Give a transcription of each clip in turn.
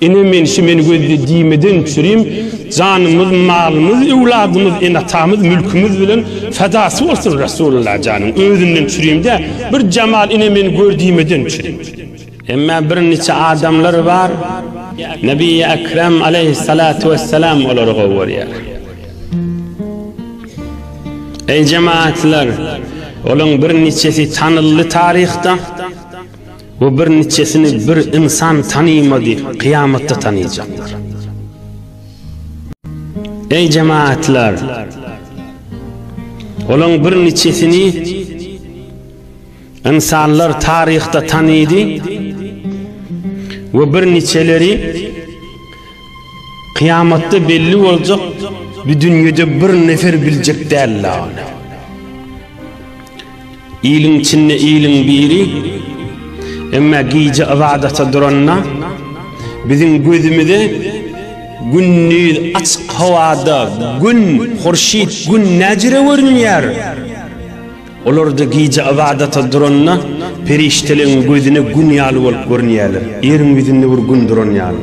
Ene menşi men gözli diýmeden çürim janymyz malymyz öwladymyz ene atamyz mülkimiz bilen fedasy bolsun Resulullah janyň özünden çürim dä bir jamal ene men gör diýmeden çürim. Emma bir niçe adamlar bar Nebiýi Ekrem aleýhissalatu wessalam olary gowy görýär. Eý jemaatlar olaň bir niçesi tanyldy taryhda. we bir niçesini bir ynsan tanymady, kyýamatda tanyjaklar. Eý jemaatlar! Olaň bir niçesini ynsanlar taryhda tanydy we bir niçeleri kyýamatda belli boljak bir dünýede bir nefer biljek däl-la ony. Iliň içinde iliň biri, Emma gije ybadata duranda, biziň gözümize gündiz açyk howada Gün, Hurşyt, Gün näjire görünýär? Olar-da gije ybadata duranda, perişdeleň gözüne Gün ýaly bolup görünýärler, ýeriň ýüzünde bir Gün duran ýaly.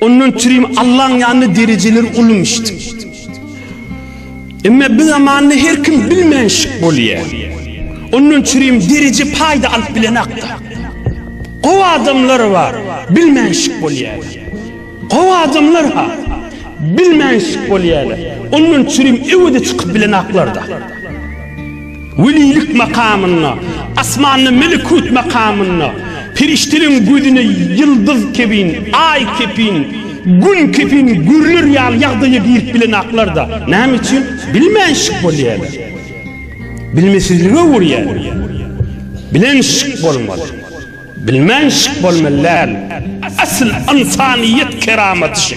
Ondan türin Allaň ýanynda derejeler ulumyşdy. Emme bu zamanda her kim bilmän şik bolýa. Ondan türin dereje paýda alyp bilen akda. Gowy adamlar bar, bilmän şik bolýa. Gowy adamlar ha, bilmän şik bolýa. Ondan türin öwede çykyp bilen aklarda. Welilik makamynda, asmanda melekut makamynda, perişdeleriň gözüne ýyldyz kebin, aý kepin, gün kepin görüler ýaly ýagdaýa girip bilenaklar-da, näme üçin? Bilmän şyk bolýarlar. Bilmesizlige öwürýärler. Bilen şyk bolmaly. Bilmän şyk bolmaly däl. Asyl ynsanyýet keramaty şu.